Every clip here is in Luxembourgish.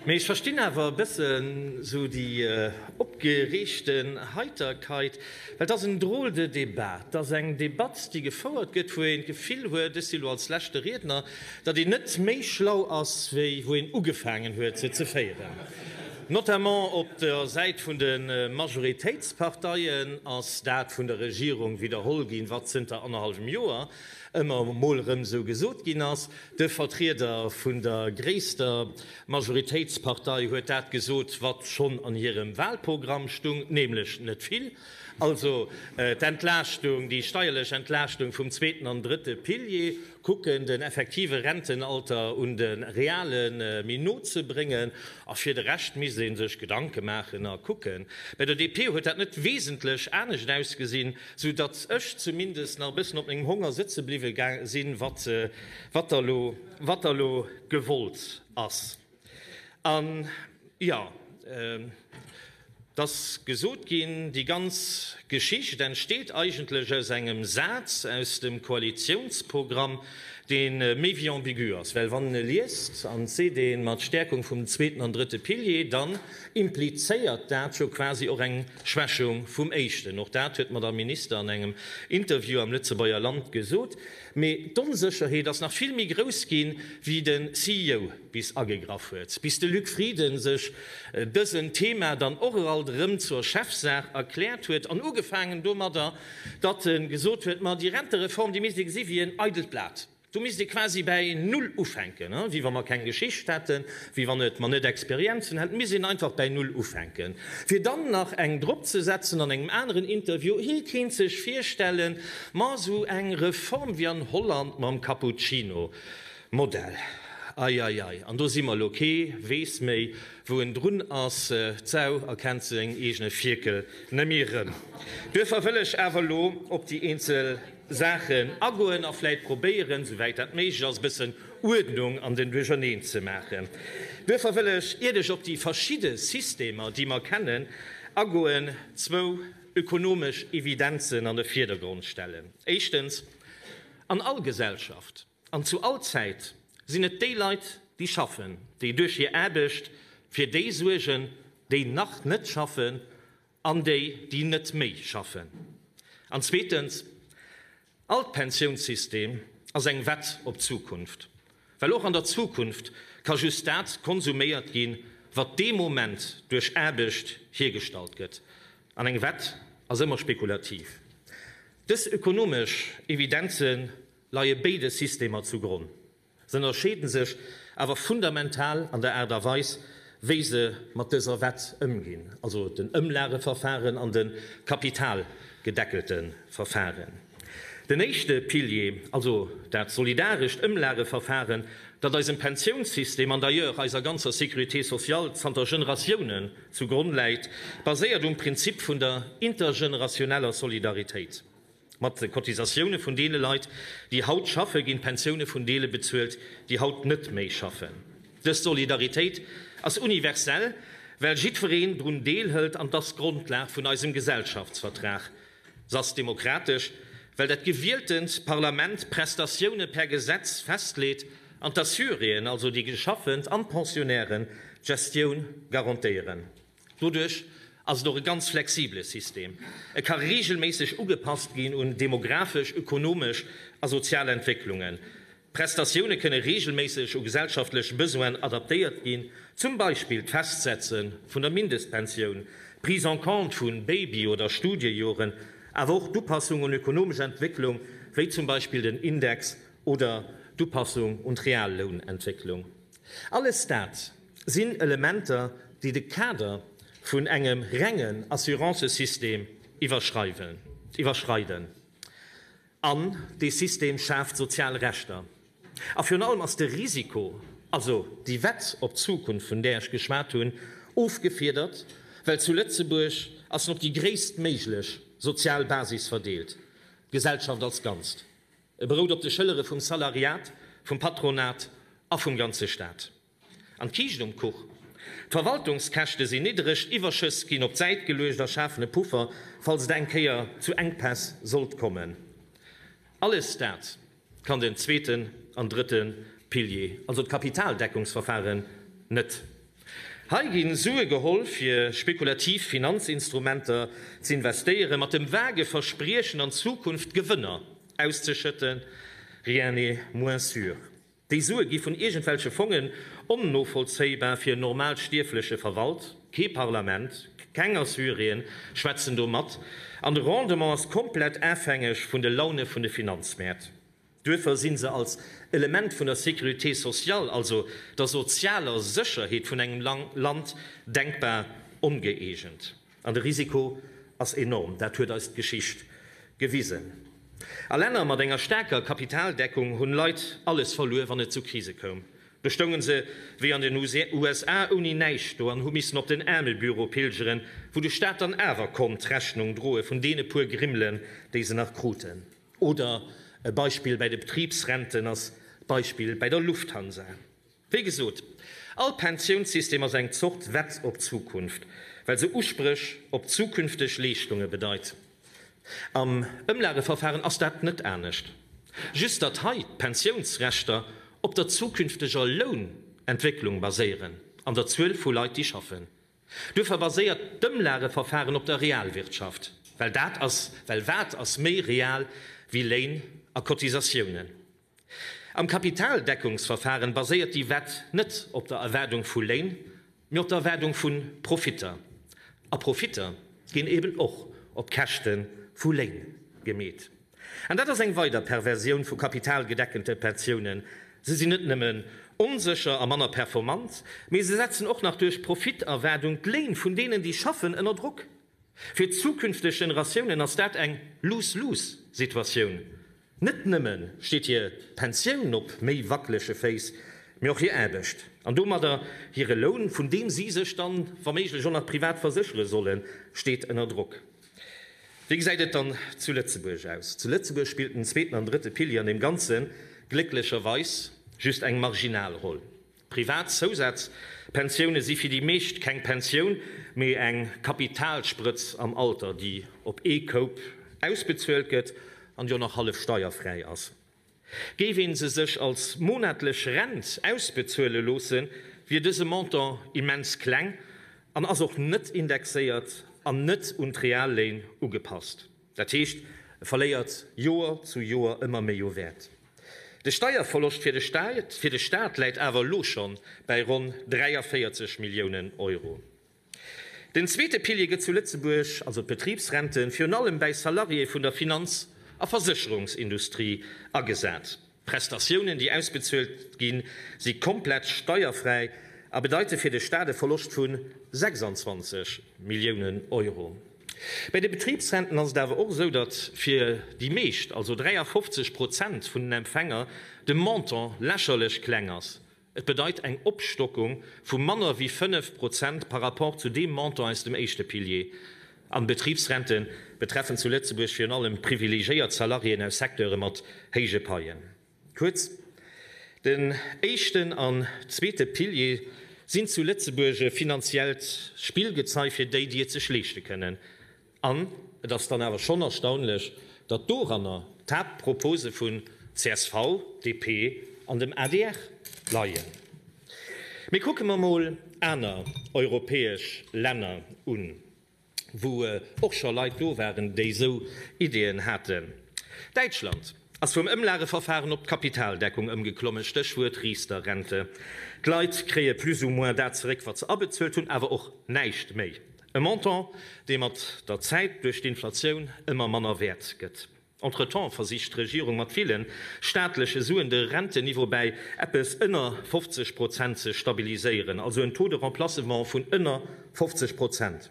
Mee ech verstinn awer e bëssen sou déi opgereegte Heiterkeit, well et ass en drôle de débat. Et ass eng Debatt, déi gefouert gëtt, wou een d'Gefill huet, ech si lo als leschte Riedner, datt een net méi schlau ass, wéi wou een ugefaangen huet, se ze féieren. Notamment op der Säit vun de Majoritéitsparteien ass dat vun der Regierung widderholl ginn, wat zënter annerhallwem Joer. ëmmer emol erëm esou gesot ginn ass. De Vertrieder vun der gréisster Majoritéitspartei huet dat gesot, wat schonn an hirem Wahlprogramm stung, nämlech net vill. Also d'Entlaaschtung, déi steierlech Entlaaschtung vum zweeten an drëtte Pilier, kucken, den effektive Rentenalter un de reale méi no ze bréngen, a fir de Rescht misst ee sech Gedanke maachen a kucken. Bei der DP huet dat net wesentlech anescht ausgesinn. sou datt ech zumindest nach e bëssen op mengem Honger sëtze bliwwe sinn, wat da lo, wat da lo gewollt ass. An, jo, et ass gesot ginn, déi ganz Geschicht entsteet eigentlech aus engem Saz aus dem Koalitionsprogramm, dee méi wéi ambigu ass, well wann een e liest, an et seet ee mat Stärkung vum zweeten an drëtte Pilier, dann implizéiert dat jo quasi och eng Schwächung vum Éischten, och dat huet d'Madame Minister an engem Interview am Lëtzebuerger Land gesot. Mee d'Onsécherheet ass nach vill méi grouss ginn, wéi de CEO bis agegraff huet. Bis de Luc Frieden sech dësen Thema dann och eralt erëm zur Chefsaach erkläert huet. An ugefaangen domadder, datt e gesot huet, ma déi Rentereform, déi misst ee gesi wéi en eidelt Blat. Do misst ee quasi bäi Null ufänken, wéi wa mer keng Geschicht hätten, wéi wann et mer net Experienzen hätt misst een einfach bäi Null ufänken, fir dann nach eng drop ze setzen an engem aneren Interview. Hie kéint sech virstellen, ma esou eng Reform wéi an Holland mam Cappuccino Modell, eieiei, an do si mer elo, kee weess méi, wou en drun ass, d'Sau erkennt seng eegene Fierkel net méi erëm. Duerfir wëll ech awer elo op déi eenzel. Saachen agoen a vläit probéieren, souwäit dat méiglech ass, e bëssen Uerdnung an den Duercherneen ze maachen. Duerffer wëll ech, iert ech op déi verschidde Systemer, déi mer kennen, agoen, zwou ökonomesch Evidenzen an de Vierdergrond stellen. Éischtens, An all Gesellschaft an zu all Zäit sinn et déi Leit, déi schaffen, déi duerch hir Aarbecht fir déi suergen, déi nach net schaffen An déi, déi net méi schaffen. An zweetens, All d'Pensiounssystem ass eng Wett op d'Zukunft, well och an der Zukunft ka just dat konsuméiert ginn, wat dee Moment duerch Aarbecht hiergestallt gëtt. An eng Wett ass ëmmer spekulativ. Dës ökonomesch Evidenze leie béide Systemer zu Gronn. Se ënnerscheeden sech awer fundamental an der Aart a Weis, wéi se mat dëser Wett ëmginn, also den Ëmlageverfahren an de kapitalgedeckelte Verfahren. Den éischte Pilier, also dat solidarescht Ëmlageverfahren, dat eisem Pensiounssystem an d'ailleurs eiser ganzer Sécurité sociale zanter Generatiounen zu Gronn läit, baséiert um Prinzip vun der intergeneratiouneller Solidaritéit. Mat de Cotisatioune vun deene Leit, déi haut schaffen, ginn d'Pensioune vun deele bezuelt, déi haut net méi schaffen. Dës Solidaritéit ass universell, well jiddwereen drun deelhëlt an 't ass d'Grondlag vun eisem Gesellschaftsvertrag. S'ass demokratesch, well dat gewieltent Parlament d'Prestatioune per Gesetz festleet an d'Assuréen, also déi Geschaffent an d'Pensionnairen, d'Gestioun garantéieren. Doduerch ass et och e ganz flexibele System. E ka reegelméisseg ugepasst ginn un demografesch, ökonomesch a sozial Entwécklungen. D'Prestatioune kënne reegelméisseg u gesellschaftlech Besoinen adaptéiert ginn, zum Beispill d'Festsetze vun der Mindestpensioun, d'Prise en compte vu Baby oder Studiejoren, awer och d'Upassung un ökonomesch Entwécklung, wéi zum Beispill den Index oder d'Upassung un d'Reallounentwécklung. Alles dat sinn Elementer, déi de Kader vun engem rengen Assurancësystem iwwerschreiden. An dee System schaaft sozial Rechter. A virun allem ass de Risiko, also déi Wett op d'Zukunft, vun där ech geschwat hunn, ofgefiedert, well zu Lëtzebuerg ass en op déi gréisstméiglech sozial Basis verdeelt, d'Gesellschaft als Ganzt. E berout op de Schëllere vum Salariat, vum Patronat a vum ganze Staat. An d'Kiischt um Kuch? D'Verwaltungskäschte sinn niddereg, d'Iwwerschëss ginn op d'Säit geluecht a schafen e Puffer, falls et eng Kéier zu Enkpäss sollt kommen. Alles dat kann den zweeten an drëtte Pilier, also d'Kapitaldeckungsverfaren, net. Hei gi Sue geholl, fir spekulativ Finanzinstrumenter z'investéieren, mat dem vage Verspriechen, an Zukunft Gewënner auszeschëtten. Rien n'est moins sûr. Déi Sue gi vun iergendwelche Fongen, onnovollzéibar fir en Normalstierfleche verwalt. Kee Parlament, keng Assyrien schwätzen do mat, an de Rendement ass komplett afhängeg vun de Laune vun de Finanzmäert. Duerfer sinn se als Element vun der Sécurité sociale, also der sozialer Sécherheet vun engem Land, denkbar ongëeegent. An de Risiko ass enorm, dat huet eis d'Geschicht gewisen. A Länner mat enger staarker Kapitaldeckung hunn Leit alles verluer, wann et zu Krise koum. Do stoungen se wéi an den USA ouni näischt do an hu missen op den Aarmebüro pilgeren, wou de Staat dann awer konnt d'Rechnung droe vun deene puer Grimmelen, déi se nach kruten. Oder e Beispill bäi de Betribsrenten ass d'Beispill bäi der Lufthansa. Wéi gesot, all Pensiounssystem ass eng Zort Wett op d'Zukunft, well se Uspréch op zukünfteg Leeschtunge bedeit. Am Ëmlageverfaren ass dat net anescht, just datt hei d'Pensiounsrechter op der zukünfteger Lounentwécklung baséieren an der Zuel vu Leit, déi schaffen. Duerfir baséiert d'Ëmlageverfahren op der Realwirtschaft, well dat ass, well wat ass méi real wéi Léin a Cotisatiounen? Am Kapitaldeckungsverfahren baséiert déi Wett net op der Erwaardung vu Léin, mee op der Erwaardung vu Profitter. A Profitter ginn eben och op Käschte vu Léin gemeet. An dat ass eng weider Perversioun vu kapitalgedeckente Pensiounen. Se sinn net nëmmen onsécher a manner performant, mee se setzen och nach duerch Profiterwaardung d'Léin vun deenen, déi schaffen, ënner Drock. Fir zukünfteg Generatiounen ass dat eng Lose-lose-Situatioun. Net nëmmen steet hir Pensioun op méi wackelege Féiss, mee och hir Aarbecht an domadder hire Loun, vun deem si sech dann wa méiglech och nach privat verséchere sollen, steet ënner Drock. Wéi gesäit et dann zu Lëtzebuerg aus? Zu Lëtzebuerg spillt den zweeten an drëtte Pilier an deem Ganze glécklecherweis just eng marginal Roll. Privat Zousazpensioune si fir déi meescht keng Pensioun, mee eng Kapitalsprëtz am Alter, déi op ee Koup ausbezuelt gëtt an jo nach hallef steierfräi ass. Géif een se sech als monatlech Rent ausbezuele loosse, wier dëse Montant immens kleng an ass och net indexéiert an net un d'Real-Léin ugepasst. Dat heescht, e verléiert Joer zu Joer ëmmer méi u Wäert. De Steierverloscht fir de Staat läit awer elo scho bei ronn 43 Milliounen Euro. Den zweete Pilier gëtt zu Lëtzebuerg, also d'Betribsrenten, virun allem bäi Salariéë vun der Finanz a Versécherungsindustrie agesat. Prestatiounen, déi ausbezuelt ginn, si komplett steierfräi a bedeite fir de Staat e Verloscht vu 26 Milliounen Euro. Bäi de Betribsrenten ass et awer och esou, datt fir déi meescht, also 53 Prozent vun den Empfänger, de Montant lächerlech kleng ass. Et bedeit eng Opstockung vu manner wéi 5 Prozent par rapport zu deem Montant aus dem éischte Pilier. An d'Betribsrente betreffen zu Lëtzebuerg virun allem privilegéiert Salariéen aus Secteure mat héije Paien. Kuerz, Den éischten an zweete Pilier sinn zu Lëtzebuerg e finanziellt Spillgezei fir déi, déi et sech leeschte kënnen. An et ass dann awer schonn erstaunlech, datt doranner d'Haaptpropose vun csv, DP an dem adr leien. Mee kucke mer mol aner europäesch Länner un, wou och scho Leit do waren, déi esou Ideeën haten. Däitschland ass vum Ëmlageverfahren op d'Kapitaldeckung ëmgeklommen, Stéchwuert Riester-Rente. D'Leit kréie plus ou moins dat zeréck, wat se abezuelt hunn, awer och näischt méi. E Montant, dee mat der Zäit duerch d'Inflatioun ëmmer manner wäert gëtt. Entretemps versicht d'Regierung mat ville staatleche Suen de Renteniveau bäi eppes ënner 50 Prozent ze stabiliséieren, also en Taux de remplacement vun ënner 50 Prozent.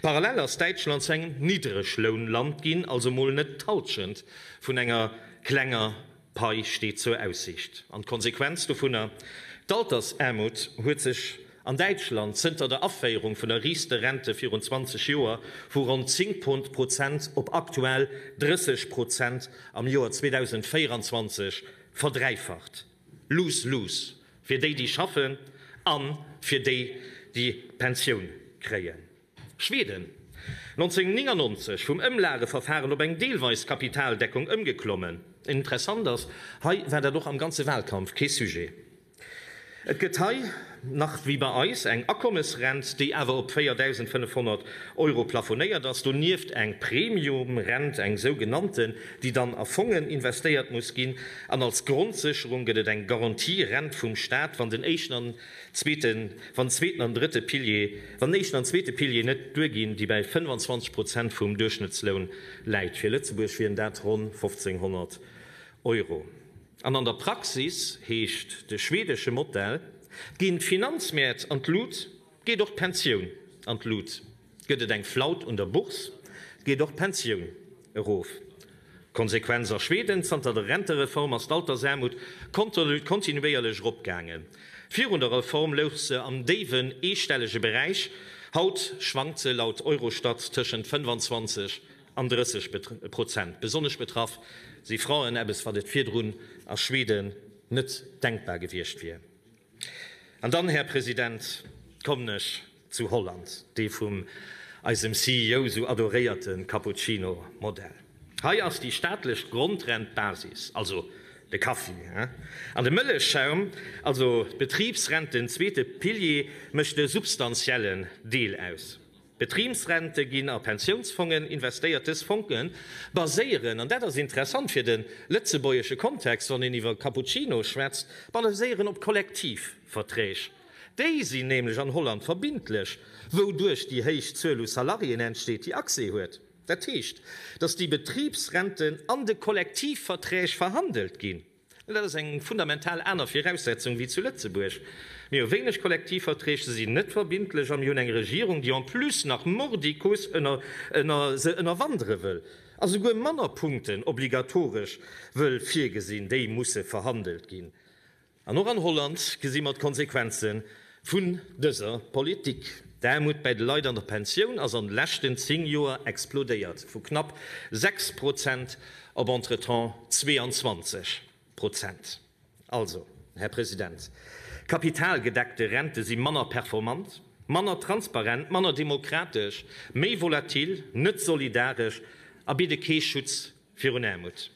Parallel ass Däitschland zu engem Niddreglounland ginn, also mol net d'Hallschent vun enger klenger. Pai steet zur Aussicht. An d'Konsequenz dovunner, d'Altersaarmut huet sech an Däitschland zënter der Aféierung vun der Riester-Rente virun 20 Joer vu ronn 10 Prozent op aktuell 30 Prozent am Joer 2024 verdräifacht. Lose-lose fir déi, déi schaffen, a fir déi, déi Pensioun kréien. Schweden, 1999 vum Ëmlageverfahren op eng deelweis Kapitaldeckung ëmgeklommen. Interessant ass, hei war dat och am ganze Wahlkampf kee Sujet. Et gëtt hei, nach wéi bei eis, eng Akommesrent, déi awer op 4.500 Euro plafonéiert ass, donieft eng Premiumrent, eng sougenannten, déi dann a Fongen investéiert muss ginn, an als Grondsécherung gëtt et eng Garantierent vum Staat, wann den éischten an Zweeten, wann zweeten an drëtte Pilier, wann éischten an zweete Pilier net duerginn, déi bäi 25 Prozent vum Duerchschnëttsloun läit, fir Lëtzebuerg wieren dat ronn 1500 Euro, an an der Praxis heescht de schwedesche Modell, ginn d'Finanzmäert an d'Lut, geet och d'Pensioun an d'Lut. Gëtt et eng Flaut un der Bourse, geet och d'Pensioun erof. Konsequenz, a Schweden, zanter der Rentereform ass d'Altersaarmut kontinuéierlech eropgaangen. Virun der Reform louch se am déiwen eestellege Beräich, haut schwankt se laut Eurostat tëschent 25 an 30 Prozent. Besonnesch betraff si Frauen, eppes wat et virdrun a Schweden net denkbar gewiescht wier. An dann, Här President, kommen ech Zu Holland dee vum eisem CEO sou adoréierte Cappuccino Modell. Hei ass déi staatlech Grondrent d'Basis, also de Kaffi, an de Mëllechschaum, also d'Betribsrent, den zweete Pilier, mécht e substantiellen Deel aus. Betribsrente ginn a Pensiounsfongen investéiert. Dës Fonge baséieren, an dat ass interessant fir de lëtzebuergesche Kontext, wann een iwwer Cappuccino schwätzt, baséieren op Kollektivverträg. Déi sinn nämlech an Holland verbindlech, wouduerch déi héich Zuel u Salariéen entsteet, déi Accès huet. Dat heescht, datt déi Betribsrenten an de Kollektivverträg verhandelt ginn. An dat ass eng fundamental aner Viraussetzung wéi zu Lëtzebuerg. Mir hu wéineg Kollektivverträg, se sinn net verbindlech a mir hunn eng Regierung, déi en plus nach mordicus se ënnerwandere wëll a souguer manner Punkten obligatoresch wëll virgesinn, déi musse verhandelt ginn. An och an Holland gesi mer d'Konsequenze vun dëser Politik. D'Aarmut bäi de Leit an der Pensioun ass an de leschten 10 Joer explodéiert, vu knapp 6 Prozent op entretemps 22 Prozent. Also, Här President, kapitalgedeckte Rente si manner performant, manner transparent, manner demokratesch, méi volatil, net solidaresch a bidde kee Schutz Virun Aarmut.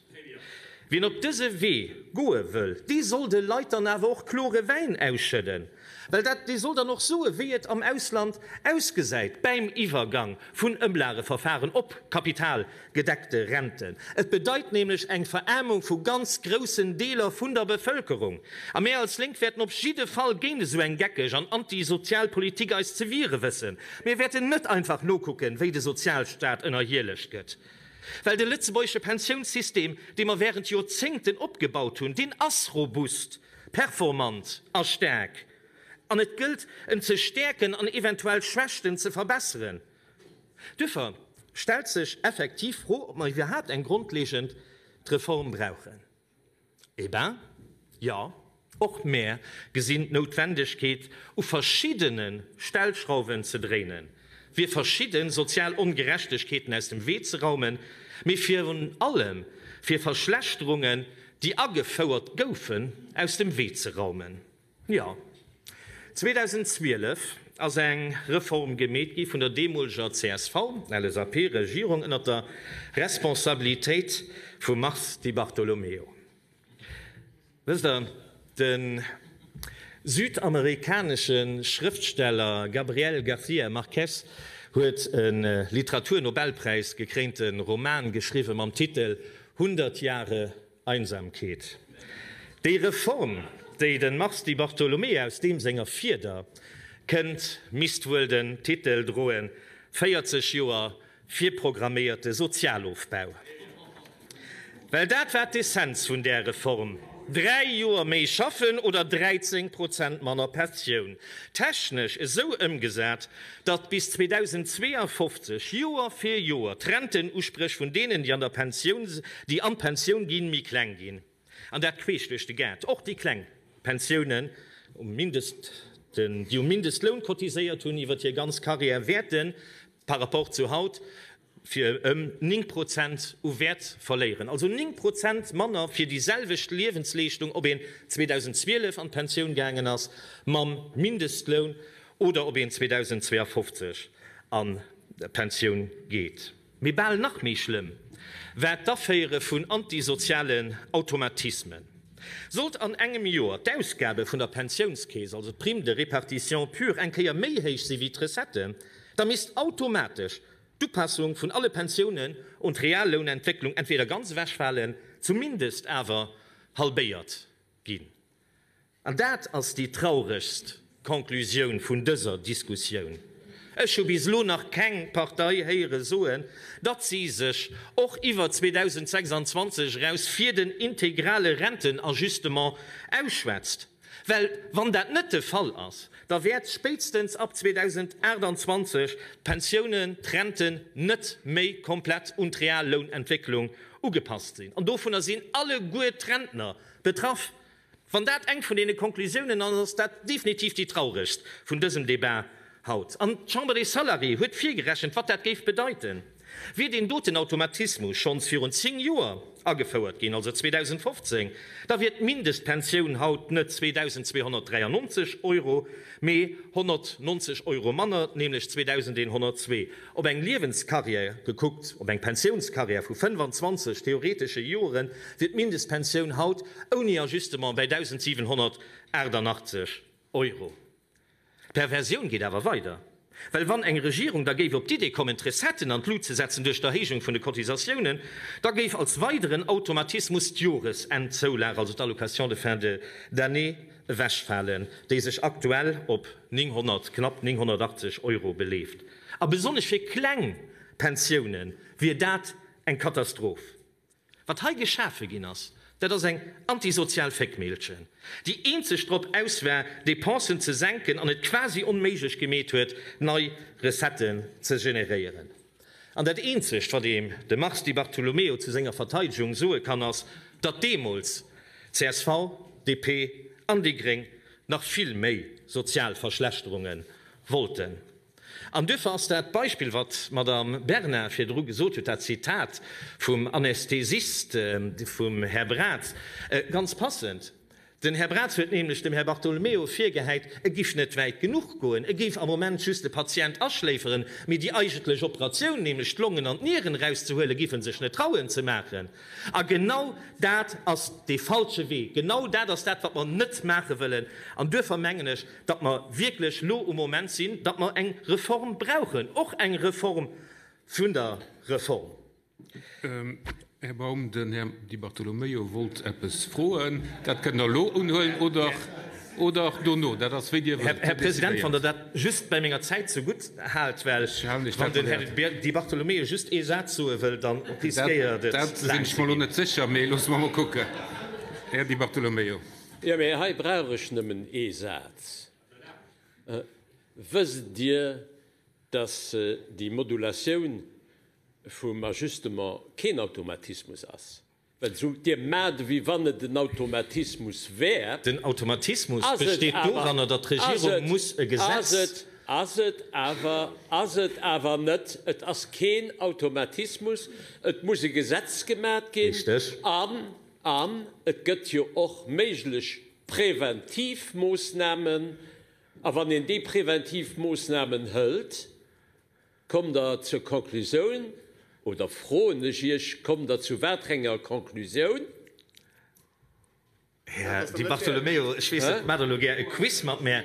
Wien op dëse Wee goe wëll, dee soll de Leit dann awer och klore Wäin ausschëdden, well dat, dee soll dann och soe wéi et am Ausland ausgesäit bäim Iwwergang vun Ëmlageverfaren op kapitalgedeckte Renten. Et bedeit nämlech eng Veraarmung vu ganz groussen Deeler vun der Bevëlkerung. A mir als Lénk wäerten op jidde Fall géint esou eng geckeg an antisozial Politik eis ze wiere wëssen. Mir wäerten net einfach nokucken, wéi de Sozialstaat ënnerhielegt gëtt. Well de lëtzebuergesche Pensiounssystem, dee mer während Joerzéngten opgebaut hunn, deen ass robust, performant a staark, an et gëllt, en ze stäerken an eventuell Schwächten ze verbesseren. Duerfir stellt sech effektiv d'Fro, ob mer iwwerhaapt eng grondlegend Reform brauchen. Eh ben, jo, och mär gesinn d'Noutwendegkeet, u verschiddene Stellschrauwen ze dréinen, fir verschidde sozial Ongerechtegkeeten aus dem Wee ze raumen, mee virun allem fir Verschlechterungen, déi agefouert goufen, aus dem Wee ze raumen. Jo, 2012 ass eng Reform gemeet gi vun der deemoleger CSV-LSAP-Regierung ënnert der Responsabilitéit vum Mars Di Bartolomeo. Wësst Der, de südamerikanesche Schrëftsteller Gabriel García Márquez huet e Literaturnobelpräis gekréinte Roman geschriwwen, mam Titel Hundert Jahre Einsamkeet. Déi Reform, déi den Mars Di Bartolomei aus deem senger Fieder kënnt, misst wuel den Titel droen, 40 Joer virprogramméierte Sozialofbau. Well dat war d'Essenz vun där Reform, dräi Joer méi schaffen oder 13 Prozent manner Pensioun, technesch esou ëmgesat, datt bis 2052, Joer fir Joer, d'Rentenusprech vun deenen, déi an der Pensioun, déi an d'Pensioun ginn, méi kleng ginn, an dat queesch duerch de Gaart, och déi kleng Pensiounen, um Mindest, déi um Mindestloun cotiséiert hunn iwwert hir ganz Karriär, wäerten par rapport zu haut fir ëm 9 Prozent u Wäert verléieren, also 9 Prozent manner fir déi selwecht Liewensleeschtung, ob een 2012 an d'Pensioun gaangen ass mam Mindestloun oder ob een 2052 an d'Pensioun geet. Mee bal nach méi schlëmm war d'Aféiere vun antisozialen Automatismen. Sollt an engem Joer d'Ausgabe vun der Pensiounskeess, also d'Prime de répartition pure, eng Kéier méi héich si wéi d'Recettë, da misst automatesch d'Upassung vun alle Pensiounen un d'Reallounentwécklung entweder ganz ewechfalen, zumindest awer halbéiert ginn. An dat ass déi trauregst Conclusioun vun dëser Diskussioun. Ech hu bis elo nach keng Partei héiere soen, datt si sech och iwwer 2026 eraus fir den integrale Rentenajustement ausschwätzt. Well wann dat net de Fall ass, da wäert spéitstens ab 2028 d'Pensiounen, d'Renten net méi komplett un d'Real-Lounentwécklung ugepasst sinn. An dovunner sinn alleguer d'Rentner betraff. Wann dat eng vun deene Konklusiounen ass, ass dat definitiv déi trauregst vun dësem Débat haut. An d'Chambre des Salariés huet virgerechent, wat dat géif bedeiten. Wier deen doten Automatismus schonns virun zéng Joer agefouert ginn, also 2015, da wier d'Mindestpensioun haut net 2.293 Euro, mee 190 Euro manner, nämlech 2.102. Op eng Liewenskarriär gekuckt, op eng Pensiounskarriär vu 25 theoretesche Joren, wier d'Mindestpensioun haut ouni Ajustement bäi 1.788 Euro. D'Perversioun geet awer weider, well wann eng Regierung da géif op d'Idee kommen d'Recetten an d'Lut ze setzen duerch d'Erhéijung vun de Cotisatiounen, da géif als weideren Automatismus d'Joresendzoulage, also d'Allocation de fin d'année, ewechfalen, déi sech aktuell op 900, knapp 980 Euro beleeft. A besonnesch fir kleng Pensioune wier dat eng Katastroph. Wat hei geschafe ginn ass, dat ass eng antisozial Féckmehlchen, déi eenzeg drop aus war, Depensen ze senken an et quasi onméiglech gemeet huet, nei Recetten ze generéieren. An dat Eenzegt, wat een dem Mars Di Bartolomeo zu senger Verteidegung soe kann, ass, datt deemools csv, DP an déi Gréng nach vill méi sozial Verschlechterunge wollten. An duerfir ass dat Beispill, wat d'Madame Bernard virdru gesot huet, dat Zitat vum Anästhesist vum Här Braz, ganz passend. Den Här Braz huet nämlech dem Här Bartolomeo virgehäit, e géif net wäit genuch goen, e géif am Moment just de Patient aschléiferen, mee déi eigentlech Operatioun, nämlech d'Longen an d'Nieren erauszehuelen, géif e sech net trauen ze maachen. A genau dat ass dee falsche Wee. Genau dat ass dat, wat mer net maache wëllen. An duerfir mengen ech, datt mer wierklech lo um Moment sinn, datt mer eng Reform brauchen, och eng Reform vun der Reform. Här Baum, den Här Di Bartolomeo wollt eppes froen. Dat kënnt Der elo unhuelen oder dono, dat ass wéi Dir wëllt. Här President, wann Der dat just bei menger Zäit zegutt haalt, well wann den Här Di Bartolomeo just ee Saz soe wëll, da riskéiert et laang ze ginn. Dat sinn ech mer elo net sécher, mee loosse mer emol kucken. Här Di Bartolomeo. Jo, mee hei brauch ech nëmmen ee Saz. Wësst Dir, dass déi Modulatioun vum Ajustement keen Automatismus ass? Well esou Dir maacht, wéi wann et en Automatismus wär. Den Automatismus besteet doranner, datt d'Regierung muss e Gesetz. Ass et awer, ass et awer net. Et ass keen Automatismus. Et muss e Gesetz gemaacht ginn. Richteg. An et gëtt jo och méiglech präventiv Moosnamen. A wann een déi präventiv Moosnamen hëlt, kommt Der zur Conclusioun, oder froen ech Iech, kommt Der zu waterenger Conclusioun? Här Di Bartolomeo, ech weess, Dir maacht elo gär e Quiz mat mär.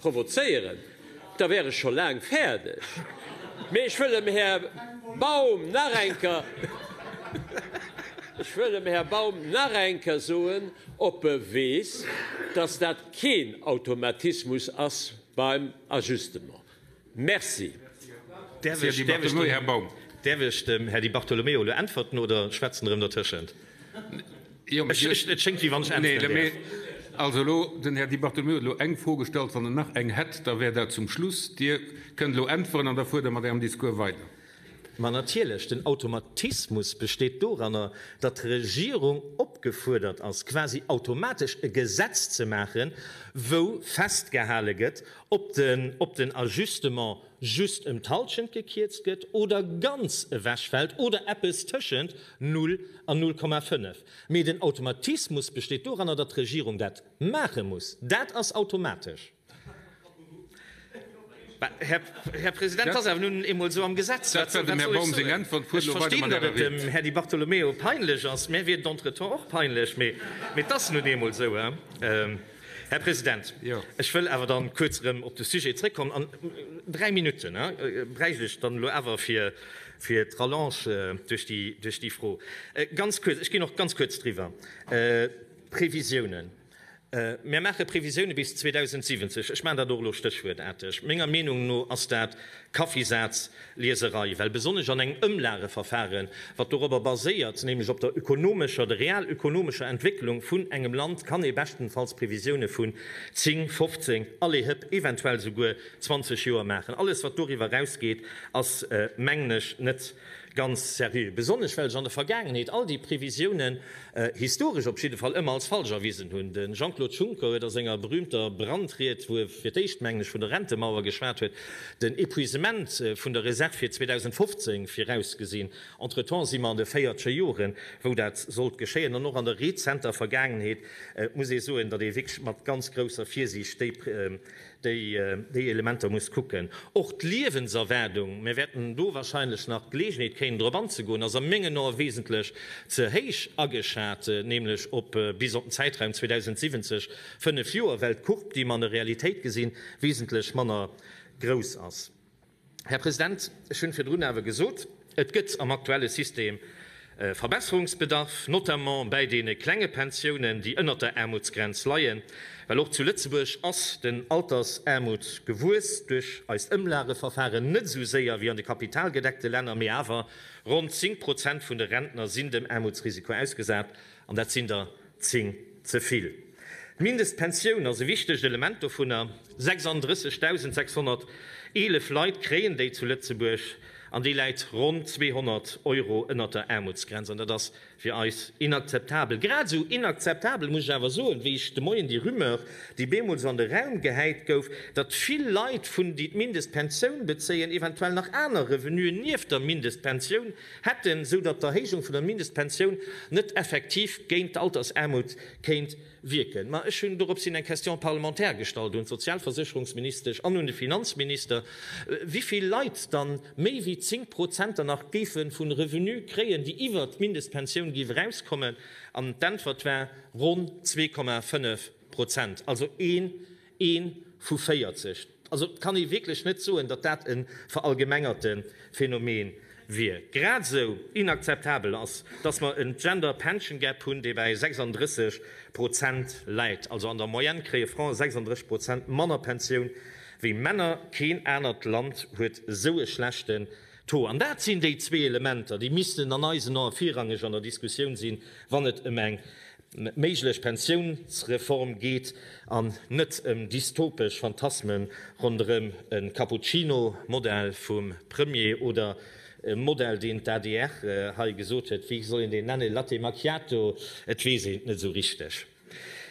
provozéieren, da wär ech scho laang fäerdeg. Mee ech wëll dem Här Baum nach eng Kéier, ech wëll dem Här Baum nach eng Kéier soen, ob e weess, dass dat keen Automatismus ass beim Ajustement. Merci. Däerf ech dem Här Di Bartolomeo elo äntwerten oder schwätzt en erëm dertëschent? Et schéngt wéi wann ech äntweren däerf. Also elo, den Här Di Bartolomeo huet elo eng Fro gestallt. Wann en nach eng hätt, da wär dat zum Schluss. Dir kënnt elo äntweren an da fuert Der mat Ärem Discours weider. Ma natierlech, den Automatismus besteet doranner, datt d'Regierung opgefuerdert ass, quasi automatesch e Gesetz ze maachen, wou festgehale gëtt, ob den Ajustement just ëm d'Hallschent gekierzt gëtt oder ganz ewechfält oder eppes tëschent null an null Komma fënnef. Mee den Automatismus besteet doranner, datt d'Regierung dat maache muss. Dat ass automatesch. Här President, et ass awer nun eemol esou am Gesetz. Ech verstinn, datt et dem Här Di Bartolomeo peinlech ass. Mir wier d'Entretemps och peinlech, mee et ass nun eemol esou. Här President, ech wëll awer da kuerz erëm op de Sujet zrëckkommen. An dräi Minutte bräicht ech dann elo awer fir d'Rallonge duerch déi Fro. Ganz kuerz, ech ginn och ganz kuerz driwwer. D'Previsiounen. Mär maache Previsioune bis 2070. Ech maachen dat och elo stéchwuertarteg. Menger Meenung no ass dat Kaffisazlieserei, well besonnesch an engem Ëmlageverfaren, wat dorobber baséiert, nämlech op der ökonomescher oder realökonomescher Entwécklung vun engem Land, kann ee beschtenfalls Previsioune vun 10, 15, allez hëpp, eventuell souguer 20 Joer maachen. Alles, wat doriwwer erausgeet, ass, mengen ech, net. Ganz seriö. Besonnesch well sech an der Vergaangenheet all déi Previsiounen, historesch op jidde Fall, ëmmer als falsch erwisen hunn. De Jean-Claude Juncker huet a senger berüümter Brandried, wou e fir d'éischt, mengen ech, vun der Rentemauer geschwat huet, den Epuisement vun der Reserv fir 2015 virausgesinn. Entretemps si mer an de véiertche Joren, wou dat sollt geschéien. An och an der rezenter Vergaangenheet muss ee soen, datt ee wierklech mat ganz grousser Virsiicht déi déi Elementer muss kucken. Och d'Liewenserwaardung, mir wäerten do wahrscheinlech nach d'Geleegenheet kréien drop anzegoen, ass a mengen Ae wesentlech ze héich ageschat, nämlech op bis op den Zäitraum 2070, fënnef Joer, well d'Courbe, déi mer an der Realitéit gesinn, wesentlech manner grouss ass. Här President, ech hunn virdrun awer gesot, et gëtt am aktuelle System Verbesserungsbedarf, notamment bäi deene klenge Pensiounen, déi ënnert der Aarmutsgrenz leien, well och zu Lëtzebuerg ass den Altersaarmut gewuess duerch eist Ëmlageverfaren, net esou séier wéi an de kapitalgedeckte Länner, mee awer ronn 10 Prozent vun de Rentner sinn dem Aarmutsrisiko ausgesat. An dat sinn der zéng ze vill. D'Mindestpensioun ass e wichtegt Element dovunner. 36.611 Leit kréien déi zu Lëtzebuerg, an déi läit ronn 200 Euro ënnert der Aarmutsgrenz. An dat ass fir eis inakzeptabel. Grad esou inakzeptabel, muss ech awer soen, wéi ech de Moien déi Rumeur, déi bemools an de Raum gehäit gouf, datt vill Leit vun, déi d'Mindestpensioun bezéien, eventuell nach aner Revenuen nieft der Mindestpensioun, hätten, sou datt d'Erhéijung vun der Mindestpensioun net effektiv géint d'Altersaarmut kéint wierken. Ma ech hunn dorops hin eng Question parlementaire gestallt un d'Sozialversécherungsministesch an un de Finanzminister, wivill Leit dann méi wéi 10 Prozent dann nach géife vun Revenue kréien, déi iwwert d'Mindestpensioun géif erauskommen, an d'Äntwert war, Ronn 2,5 Prozent, also een Ee vu 40. Also et kann ee wierklech net soen, datt dat e verallgemengerte Phänomen wier. Grad esou inakzeptabel ass, datt mer en Gender Pension Gap hunn, dee bäi 36 Prozent läit. Also an der Moyenne kréie Frae 36 Prozent manner Pensioun wéi Männer. Keen anert Land huet esou e schlechten Taux. An dat sinn déi zwee Elementer, déi missten an eisen Ae virrangeg an der Diskussioun sinn, wann et ëm eng Méiglech Pensiounsreform geet an net ëm dystopesch Phantasme ronderëm e Cappuccino, Modell vum Premier, oder e Modell, deen d'ADR hei gesot huet, wéi soll een deen nennen, Latte Macchiato? Et weess een et net esou richteg.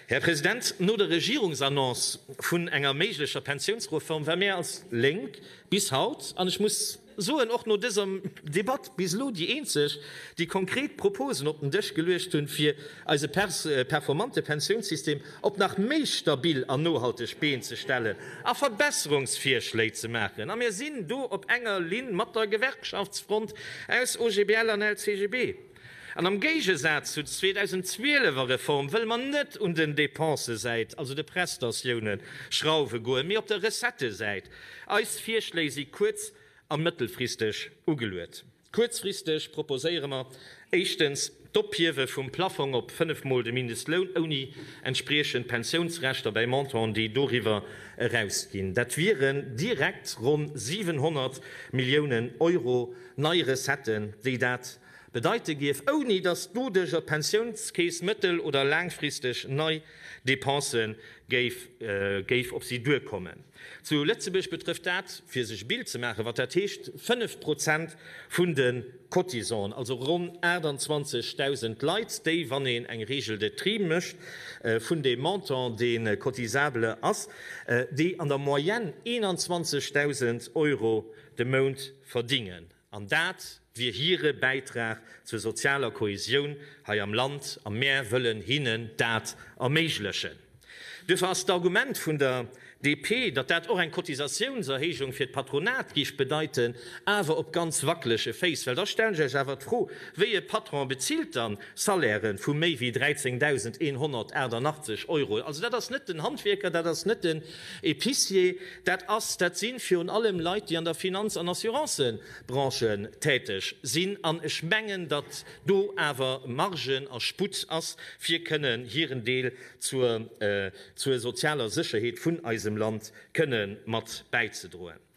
Här President, no der Regierungsannonce vun enger méiglecher Pensiounsreform war mir als Lénk bis haut, an ech muss, soen och no dëser Debatt bis elo déi eenzeg, déi konkret Proposen op den Dësch geluecht hunn, fir eise performante Pensiounssystem op nach méi stabil an nohalteg Been ze stellen a Verbesserungsvirschléi ze maachen. A mir sinn do op enger Linn mat der Gewerkschaftsfront aus OGBL an LCGB. An am Géigesaz zu 2012 er Reform wëlle mer net un den Dépensësäit, also de Prestatiounen, schrauwe goen, mee op der Recettesäit. Eis Virschléi si kuerz a mëttelfristeg ugeluet. Kuerzfristeg proposéiere mer éischtens d'Ophiewe vum Plaffong op fënnef Mol de Mindestloun ouni entspriechend Pensiounsrechter bäi Montanten, déi doriwwer eraus ginn. Dat wieren direkt ronn 700 Milliounen Euro nei Recetten, déi dat bedeite géif, ouni datt d'Budeg op d'Pensiounskeess mëttel oder laangfristeg nei Depense géif op si duerkommen. Zu Lëtzebuerg betrëfft dat, fir sech e Bild ze maachen, wat dat heescht, fënnef Prozent vun de Cotisanten, also ronn 28.000 Leit, déi, wann een eng Regel de tri mécht vun deem Montant, dee cotisable ass, déi an der Moyenne 21.000 Euro de Mount verdingen. An dat wier hire Bäitrag zur sozialer Kohesioun hei am Land a mär wëllen hinnen dat erméiglechen. Duerfir ass d'Argument vun der DP, datt dat och eng Cotisatiounserhéijung fir d'Patronat géif bedeiten, awer op ganz wackelege Féiss. Well da stellen ech Iech awer d'Fro, Wéi e Patron bezilt dann Salairen vu méi wéi 13.188 Euro? Also dat ass net den Handwierker, dat ass net de. Épicier, dat ass, dat si virun allem Leit, déi an der Finanz an Assurancebranche täteg sinn. An ech mengen, datt do awer Margen a Sputt ass, fir kënnen hiren Deel zur sozialer Sécherheet vun eisem Land kënnen mat bäizedroen.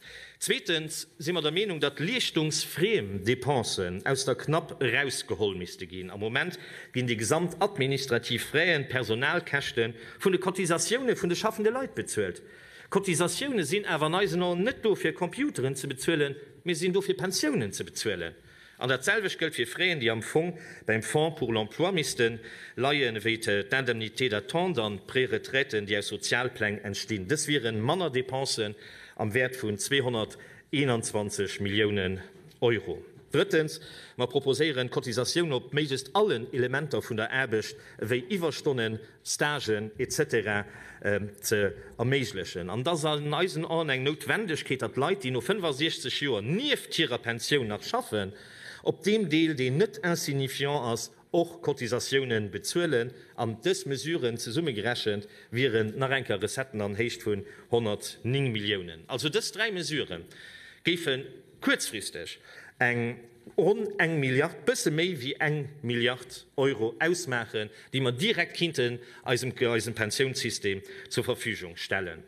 Zweetens si mer der Meenung, datt leeschtungsfriem Dépensen aus der CNAP erausgeholl misste ginn. Am Moment ginn déi gesamt administrativ Fräen, d'Personalkäschte vun de Cotisatioune vun de schaffende Leit bezuelt. Cotisatioune sinn awer an eisen Aen net do fir Computeren ze bezuelen, mee sinn do fir Pensiounen ze bezuelen. An dat selwecht gëllt fir Fräen, déi am Fong beim Fonds pour l'emploi misste leien, ewéi d'Indemnités d'attente an d'Préretraiten, déi aus Sozialpläng entstinn. Dës wiere manner Depensen am Wäert vun 221 Milliounen Euro. Drëttens, mer proposéieren, d'Cotisatioun op méiglechst allen Elementer vun der Aarbecht, ewéi Iwwerstonnen, Stagen etc. Ze erméiglechen. An et ass an eisen Aen eng Noutwendegkeet, datt Leit, déi no 65 Joer nieft hirer Pensioun nach schaffen, op deem Deel, deen net insignifiant ass, och Cotisatioune bezuelen. An dës Mesuren zesummegerechent wieren nach enker Recetten an Héicht vun 109 Milliounen. Also dës dräi Mesurë géife kuerzfristeg eng. ronn eng Milliard, bësse méi wéi eng Milliard Euro ausmaachen, déi mer direkt kinnten eisem Pensiounssystem zur Verfügung stellen.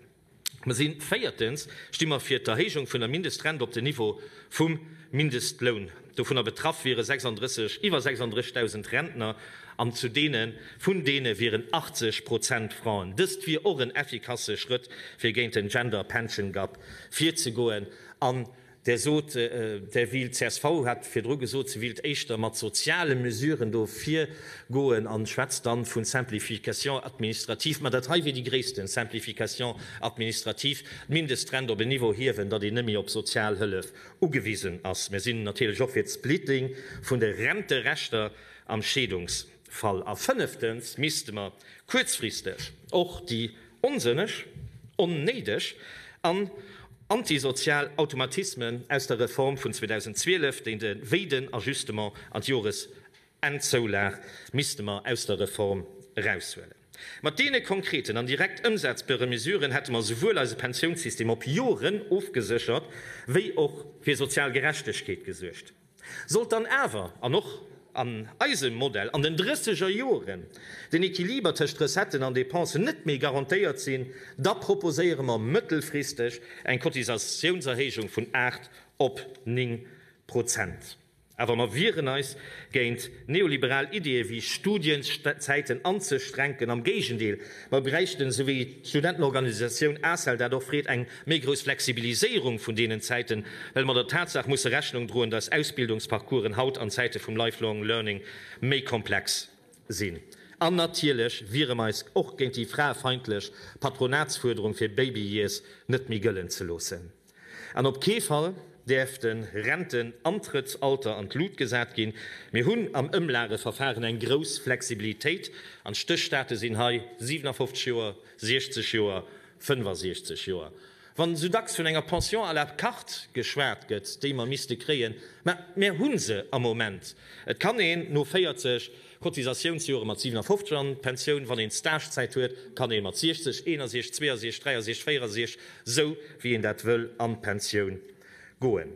Mer si véiertens, sti mer fir d'Erhéijung vun der Mindestrent op den Niveau vum Mindestloun. Dovunner betraff wiere 36, iwwer 36.000 Rentner an zu deene vun deene wieren 80 Prozent Frauen. Dëst wier och en effikasse Schrëtt fir géint den Gender Pension Gap virzegoen an Där sot, där wéilt, csv hat virdru gesot, se wéilt éischter mat soziale Mesuren do virgoen a schwätzt da vu Simplification administrative. Mä dat hei wier déi gréissten Simplification administrative, d'Mindestrent op en Niveau hiewen, datt een net méi op Sozialhëllef ugewisen ass. Mir sinn natierlech och fir d'Splitting vun de Renterechter am Scheedungs. Fall a fënneftens misste mer kuerzfristeg och déi onsënneg, onnéideg an antisozial Automatismen aus der Reform vun 2012, déi de wéiden Ajustement an d'Joresennzoulag, misste mer aus der Reform eraushuelen. Mat deene konkreten an direkt ëmsetzbare Mesuren hätte mer esouwuel eise Pensiounssystem op Joren ofgeséchert wéi och fir sozial Gerechtegkeet gesuergt. Sollt dann awer, an och an eisem Modell, an den drësseger Joren den Equiliber tëscht Recetten an Dépensen net méi garantéiert sinn, da proposéiere mer mëttelfristeg eng Cotisatiounserhéijung vun 8 op 9 Prozent. Awer mer wieren eis géint neoliberal Ideeë wéi Studienzäiten anzeschränken. Am Géigendeel, mer bräichten, esou wéi d'Studentenorganisatioun ACEL dat och freet, eng Méi grouss Flexibiliséierung vun deenen Zäiten, well mer der Tatsaach musse Rechnung droen, dass Ausbildungsparcoursen haut an Zäite vum Lifelong Learning méi komplex sinn. An natierlech wiere mer eis och géint déi fraefeindlech Patronatsfuerderung fir Baby Years net méi gëllen ze loossen. An op kee Fall däerf de Rentenantrëttsalter an d'Lut gesat ginn. Mir hunn am Ëmlageverfahren eng grouss Flexibilitéit an d'Stéchstate sinn hei 57 Joer, 60 Joer 65 Joer. Wann sou dacks vun enger Pension à la carte geschwat gëtt, déi mer misste kréien, mä mär hu se am Moment. Et kann een no 40 Cotisatiounsjore mat 57 an d'Pensioun, wann een Stagezäit huet, kann ee mat 60, 61, 62, 63, 64, sou wéi een dat wëll, an d'Pensioun goen.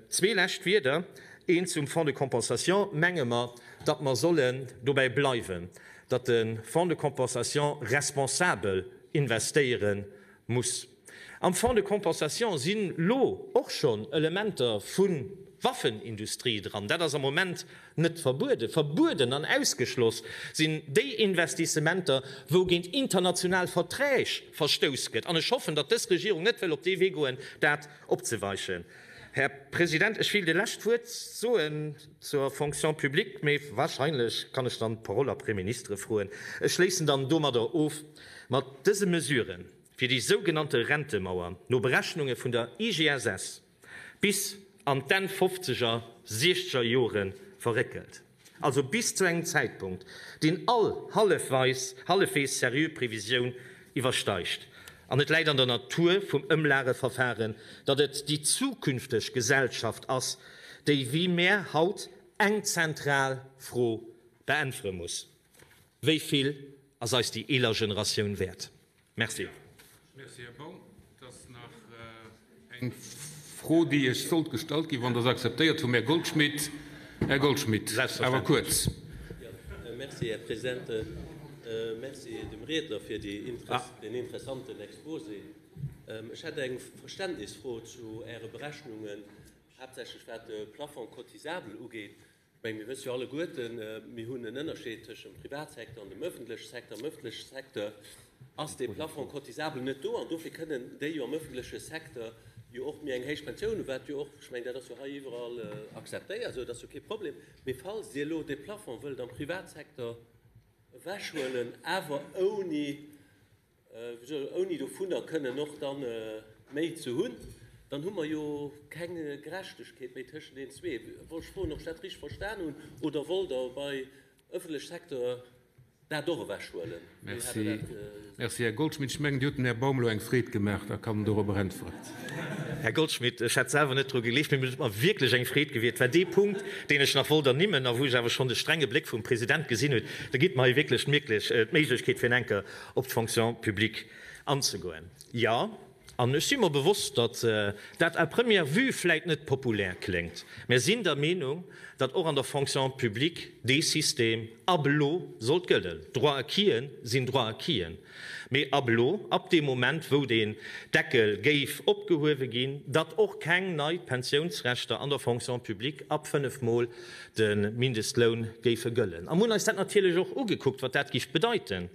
Zwee lescht Wieder, eent zum Fonds de compensation, menge mer, datt mer sollen dobäi bleiwen. datt de Fonds de compensation responsabel investéiere muss. Am Fonds de compensation si lo och schonn Elementer vu Waffenindustrie dran. Dat ass am Moment net verbueden. Verbueden an ausgeschloss sinn déi Investissementer, wou géint international Verträg verstouss gëtt. An ech hoffen, datt dës Regierung net wëll op dee Wee goen, dat opzeweichen. Här President, ech wéilt e lescht Wuert soen. Zur Fonction publique, mee wahrscheinlech kann ech dann d'Parole après ministre froen. Ech schléissen dann domadder of mat dëse Mesuren, fir déi sougenannte Rentemauer no Berechnunge vun der IGSS bis an d'Enn fofzeger, siechzeger Jore verréckelt, also bis zu engem Zäitpunkt, deen all hallefweis seriö Previsioun iwwersteigt. An et läit an der Natur vum Ëmlageverfahren, datt et déi zukünfteg Gesellschaft ass, déi wéi mär haut eng zentral Fro beäntwere muss, Wéi vill ass eis déi eeler Generatioun wäert? Merci. Et ass nach eng Fro, déi Iech sollt gestallt ginn, wann Der se akzeptéiert, vum Här Goldschmidt. Här Goldschmidt, awer kuerz. Merci, Här President. Merci dem Riedner fir den interessanten Exposé. Ech hätt eng Verständnisfro zu Äre Berechnungen, haaptsächlech wat de Plafond cotisable ugeet. Ech menge mir wësse jo alleguerten, mir hunn en Ënnerscheed tëscht dem Privatsecteur an dem ëffentleche Secteur. Am ëffentleche Secteur ass dee Plafond cotisable net do an dofir kënnen déi jo am ëffentleche Secteur jo och méi eng héich Pensioun hunn, wat jo och, ech menge dat ass jo hei iwwerall akzeptéiert esou, dat ass jo kee Problem. Mee falls Dir elo dee Plafond wëllt am Privatsecteur ewechhuelen, awer ouni Wéi gesot, ouni dovunner kënnen och da méi ze hunn, dann hu mer jo keng Gerechtegkeet méi tëschent deenen zwee. Wollt ech froen, ob ech dat richteg verstan hunn, oder wollt Der bei ëffentleche Secteur dat och ewechhuelen? Merci, merci, Här Goldschmidt. Ech mengen, Dir hutt dem Här Baum elo eng Freed gemaach, da kann en dorobber äntweren. Här Goldschmidt, ech hat selwer net dru gelicht, mee et huet mer wierklech eng Freed gewierkt. Et war dee Punkt, deen ech nach wollt ernimmen a wou ech awer schonn de strenge Bléck vum President gesinn hunn. Da gitt mer hei wierklech d'Méiglechkeet, fir en enker op d'Fonction publique anzegoen. Jo, an ech si mer bewosst, datt dat à première vue vläit net populär kléngt, mä sinn der Meenung, datt och an der Fonction publique dee System ab elo sollt gëllen. Droit-acquisen sinn Droit-acquisen, mä ab elo, ab deem Moment, wou deen Deckel géif opgehuewe ginn, datt och keng nei Pensiounsrechter an der Fonction publique ab fënnef Mol de Mindestloun géife gëllen a mir hunn eis dat natierlech och ugekuckt, wat dat géif bedeiten.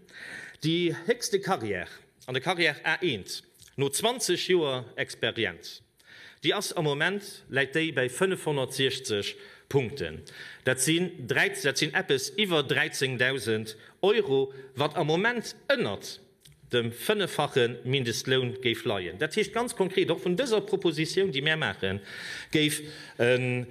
Déi héchste Carrière an der Carrière A1 no 20 Joer Experienz, déi ass am Moment, läit déi bäi 560 Punkten. Dat sinn, dat sinn eppes iwwer 13.000 Euro, wat am Moment ënnert dem fënneffache Mindestloun géif leien. Dat heescht ganz konkret, och vun dëser Propositioun, déi mär maachen, géif e.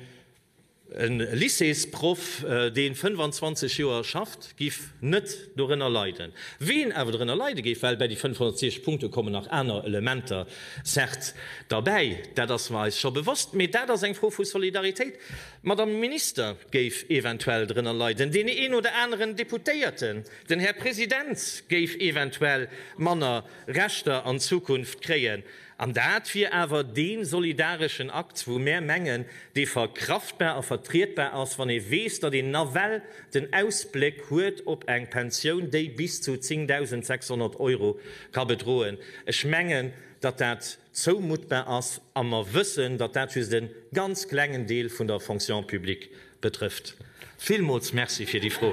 E Lycéesproff, dee 25 Joer schafft, géif net dorënner leiden. Ween awer dorënner leide géif, well bäi déi 560 Punkte kommen nach aner Elementer, certes, derbäi, dat ass mer eis scho bewosst, mee dat ass eng Fro vu Solidaritéit. D'Madame Minister géif eventuell dorënner leiden, deen een oder aneren Deputéierten, den Här President géif eventuell manner Rechter an Zukunft kréien. An dat wier awer dee solidareschen Akt, wou mär mengen, dee verkraftbar a vertrietbar ass, wann ee weess, datt een nawell den Ausbléck huet op eng Pensioun, déi bis zu 10.600 Euro ka bedroen. Ech mengen, datt dat zoumuttbar ass a mer wëssen, datt dat just e ganz klengen Deel vun der Fonction publique betrëfft. Villmools Merci fir déi Fro.